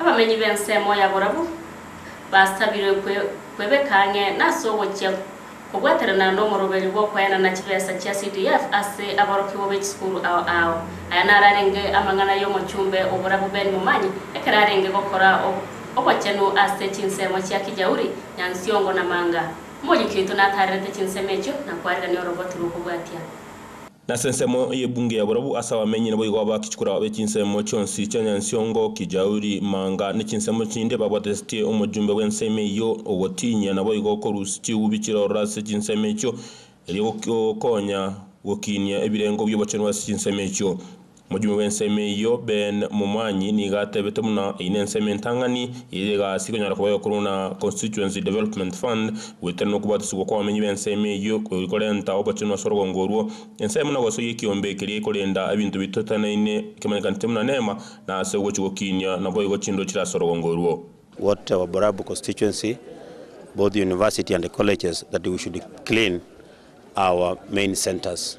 Abamenyi b'ensemo ya borabu basabirwe kwebeka ang'e nase ogochia kobwaterana nomoroberi bw'okoenana chibesa chia CDF ase aborokigwa be chisukuru ao ao. Aya nararenge amang'ana y'omochumbe o borabu Ben Momanyi ekero arenge gokora obochenu ase chinsemo chia Kijauri, Nyansiongo na Manga. Omoyiki oito natarerete chinsemo echio nakwarerania oroboti rw'okobwatia. Nase ensemo y'ebunge ya borabu ase abamenyi naboigo abachikora b'echinsemo chionsi chia Nyansiongo, Kijauri, Manga, ne chinsemo chinde babwatesetie omojumbe bw'ensemo eyio ogotinyia naboigo korusia chiubi chiroro ase chinsemo echio erio gokonya gokinia ebirengo bi'obochenu ase chinsemo echio. Mochumi bw'ensemo eyio, Ben Momwanyi, nigo atebete buna eyio nensemo entang'ani, eyio egasi ikonyara koboywa korwa na Constituency Development Fund, goetera nokobwatisibwa kw'abamenyi b'ensemo eyio kori korenta obochenu ase orogong orwo. Ensemo na gosoyia ekiombe keria ekorenda ebinto ebi toteneine kemanyekanete buna neema na ase ogochi gokiinia naboigo chinduru chire ase orogong orwo. What our Borabu constituency, both university and colleges that we should clean our main centres.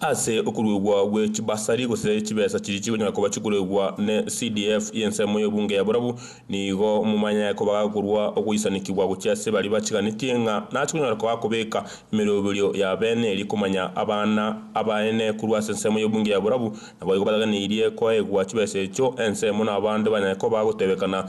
Ase okuruegwa gwe chibasari gose chibesa chiria chigonyara koba chikoruegwa ne CDF y'ensemo y'obunge ya Borabu, nigo momanye koba gakorua ogoisanekigwa gochia ase baria bachiganetie ng'a nachikonyara koba gakobeka emeroberio ya beene eria komanya abana abaene korwa ase ensemo y'obunge ya Borabu naboigo bataganeirie koegwa chibesa echio ensemo nabande banyare koba gotebekana